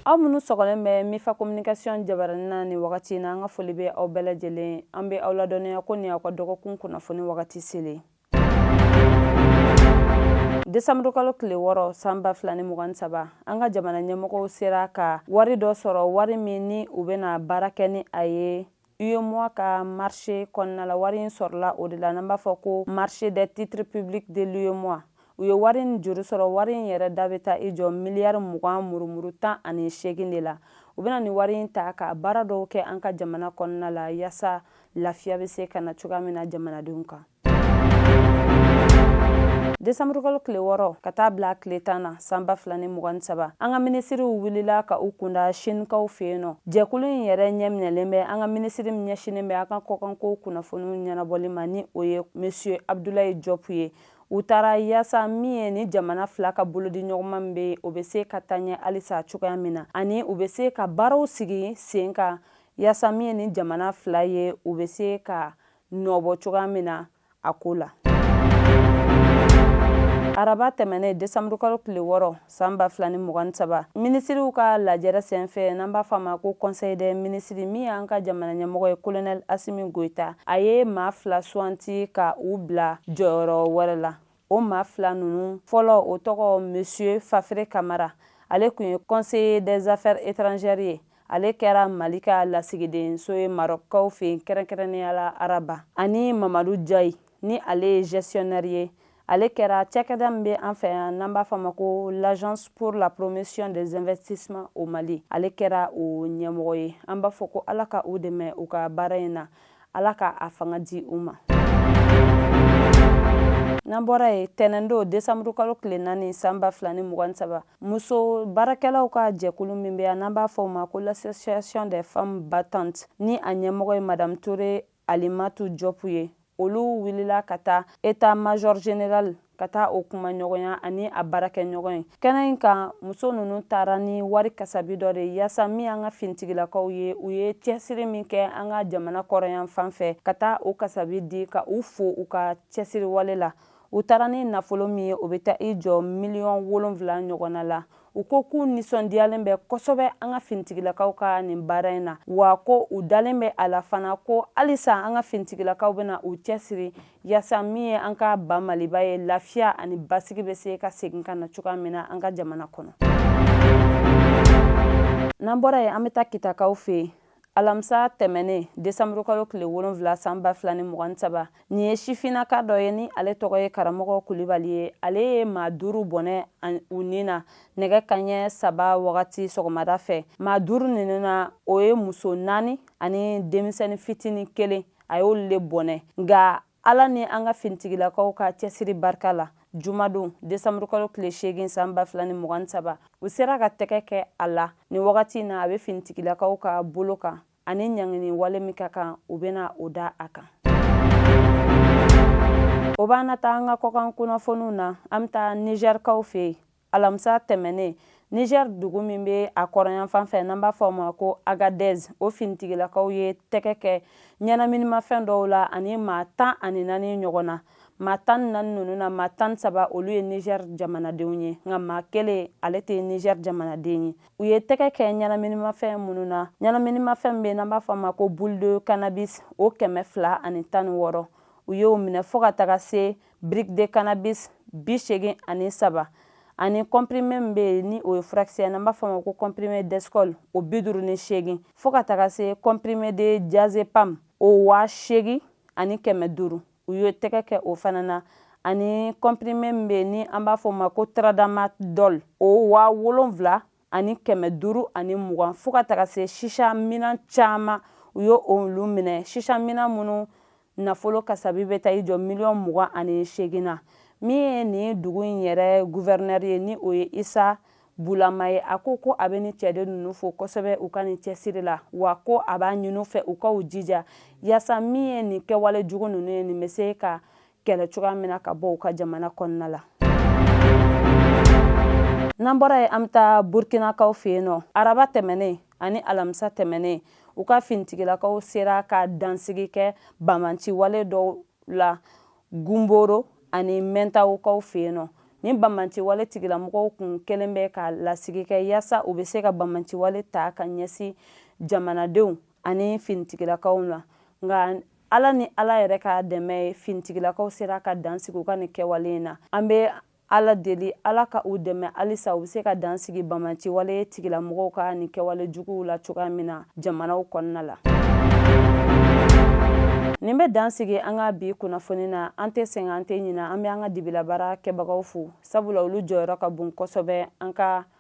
aw minnu sɔgɔlen bɛ mifa communication jabarani na ni wagati in na an ka foli bɛ aw bɛɛ lajɛlen an bɛ aw ladɔnniya ko ni aw ka dɔgɔkun kunnafoni wagati selen desanburukalo tile wɔɔrɔ san ba fila ni mugan ni saba an ka jamana ɲɛmɔgɔw sera ka wari dɔ sɔrɔ wari min ni u bɛna baara kɛ ni a ye UEMOA ka marché kɔnɔna la wari in sɔrɔla o de la n'an b'a fɔ ko marché des titres publics de l'UEMOA u ye wari in juru sɔrɔ wari in yɛrɛ da bɛ taa i jɔ miliyari mugan murumuru tan ani seegin de la u bɛna ni wari in ta ka baara dɔw kɛ an ka jamana kɔnɔna la yaasa lafiya bɛ se ka na cogoya min na jamanadenw kan desanburukalo tile wɔɔrɔ ka taa bila tile tan na san ba fila ni mugan saba an ka minisiriw wulila ka u kunda sinikaw fɛ yen n'o jɛkulu in yɛrɛ ɲɛminɛlen bɛ an ka minisiri min ɲɛsinnen bɛ an ka kɔkanko kunnafoniw ɲɛnabɔli ma ni o ye monsieur abdulayi jɔpu ye u taara yaasa min ye ni jamana fila ka bolodiɲɔgɔnma min bɛ o bɛ se ka taa ɲɛ halisa cogoya min na ani u bɛ se ka baaraw sigi sen kan yaasa min ye nin jamana fila ye u bɛ se ka nɔbɔ cogoya min na a ko la araba tɛmɛnen desanburukalo tile wɔɔrɔ san ba fila ni mugan ni saba minisiriw ka lajɛrɛ senfɛ n'an b'a fɔ a ma ko conseil des ministres min y'an ka jamana ɲɛmɔgɔ ye kolonɛl asimi goyita a ye maa fila suwanti ka u bila jɔyɔrɔ wɛrɛ la o maa fila ninnu fɔlɔ o tɔgɔ monsieur fafere kamara ale kun ye conseiller des affaires étrangères ye ale kɛra mali ka lasigidenso ye marɔkaw fɛ yen kɛrɛnkɛrɛnnenya la araba ani mamadu jayi ni ale ye gestionnaire ye ale kɛra cakɛda min bɛ an fɛ yan n'an b'a fɔ a ma ko l'agence pour la promotion des investissements au mali ale kɛra o ɲɛmɔgɔ ye an b'a fɔ ko ala ka u dɛmɛ u ka baara in na ala ka a fanga di u ma n'an bɔra yen tɛnɛndon desanburu kalo tile naani san ba fila ni mugan saba muso baarakɛlaw ka jɛkulu min bɛ yan n'an b'a fɔ o ma ko l'association des femmes battantes ni a ɲɛmɔgɔ ye madame ture alimatu jɔpu ye olu wulila ka taa état major général ka taa o kumaɲɔgɔnya ani a baarakɛɲɔgɔn ye kɛnɛ in kan muso ninnu taara ni wari kasabi dɔ de yaasa min an ka finitigilakaw ye u ye cɛsiri min kɛ an ka jamana kɔrɔn yanfan fɛ ka taa o kasabi di ka u fo u ka cɛsiri wale la u taara ni nafolo min ye o bɛ taa i jɔ miliyɔn wolonfila ɲɔgɔnna la u ko k'u nisɔndiyalen bɛ kosɛbɛ an ka finitigilakaw ka nin baara in na wa ko u dalen bɛ a la fana ko halisa an ka finitigilakaw bɛna u cɛsiri yaasa min ye an ka ba maliba ye lafiya ani basigi bɛ se ka segin ka na cogoya min na an ka jamana kɔnɔ n'an bɔra yen an bɛ taa kitakaw fɛ yen alamisa tɛmɛnen desanburukalo tile wolonfila san ba fila ni mugan saba nin ye sifinaka dɔ ye ni ale tɔgɔ ye karamɔgɔ kulibali ye ale ye maa duuru bɔnɛ u ni na nɛgɛ kaɲɛ saba wagati sɔgɔmada fɛ maa duuru ninnu na o ye muso naani ani denmisɛnnin fitinin kelen a y'olu le bɔnɛ nka ala ni an ka finitigilakaw ka cɛsiri barika la jumadon desanburukalo tile seegin san ba fila ni mugan saba u sera ka tɛgɛ kɛ a la nin wagati na a bɛ finitigilakaw ka bolo kan ani ɲangini wale min ka kan u bɛna o da a kan o b'an na taa an ka kɔkan kunnafoniw na an bɛ taa nizɛrikaw fɛ yen alamisa tɛmɛnen niger dugu min bɛ a kɔrɔnyanfan fɛ n'an b'a fɔ o ma ko agadez o finitigilakaw ye tɛgɛ kɛ ɲɛnaminimafɛn dɔw la ani maa tan ani naani ɲɔgɔn na maa tan ni naani ninnu na maa tan ni saba olu ye niger jamanadenw ye nka maa kelen ale tɛ niger jamanaden ye u ye tɛgɛ kɛ ɲɛnaminimafɛn minnu na ɲɛnaminimafɛn min bɛ n'an b'a fɔ o ma ko boule de cannabis o kɛmɛ fila ani tan ni wɔɔrɔ u y'o minɛ fo ka taga se brique de cannabis bi seegin ani saba ani kɔnpirime min bɛ yen ni o ye furakisɛ n'an b'a fɔ o ma ko kɔnpirime d'exol o bi duuru ni seegin fo ka taga se kɔnpirime de diazepam o waa seegin ani kɛmɛ duuru u ye tɛgɛ kɛ o fana na ani kɔnpirime min bɛ yen ni an b'a fɔ o ma ko taradamadɔl o waa wolonwula ani kɛmɛ duuru ani mugan fo ka taga se shisha minan caman u ye olu minɛ shisha minan minnu nafolo kasabi bɛ taa i jɔ miliyɔn mugan ani seegin na min ye nin dugu in yɛrɛ guvɛrinɛri ye ni o ye isa bulama ye a ko ko a bɛ nin cɛden ninnu fo kosɛbɛ u ka nin cɛsiri la wa ko a b'a ɲini u fɛ u ka u jija yaasa min ye nin kɛwale jugu ninnu ye nin bɛ se ka kɛlɛ cogoya min na ka bɔ u ka jamana kɔnɔna la n'an bɔra yen an bɛ taa burkinakaw fɛ yen nɔ araba tɛmɛnen ani alamisa tɛmɛnen u ka finitigilakaw sera ka dansigi kɛ banbaanci wale dɔw la gunboro ani mɛntawukaw fɛ yen nɔ nin banbaanci wale tigilamɔgɔw kun kɛlen bɛ ka lasigi kɛ yaasa u bɛ se ka banbaanci wale ta ka ɲɛsin jamanadenw ani finitigilakaw la nka ala ni ala yɛrɛ ka dɛmɛ ye finitigilakaw sera ka dansigi u ka nin kɛwale in na an bɛ ala deli ala ka u dɛmɛ halisa u bɛ se ka dansigi banbaanci wale tigilamɔgɔw ka nin kɛwale juguw la cogoya min na jamanaw kɔnɔna la nin bɛ dansigi an ka bi kunnafoni na an tɛ sɛgɛn an tɛ ɲinɛ an bɛ an ka dibilabaara kɛbagaw fo sabula olu jɔyɔrɔ ka bon kosɛbɛ an ka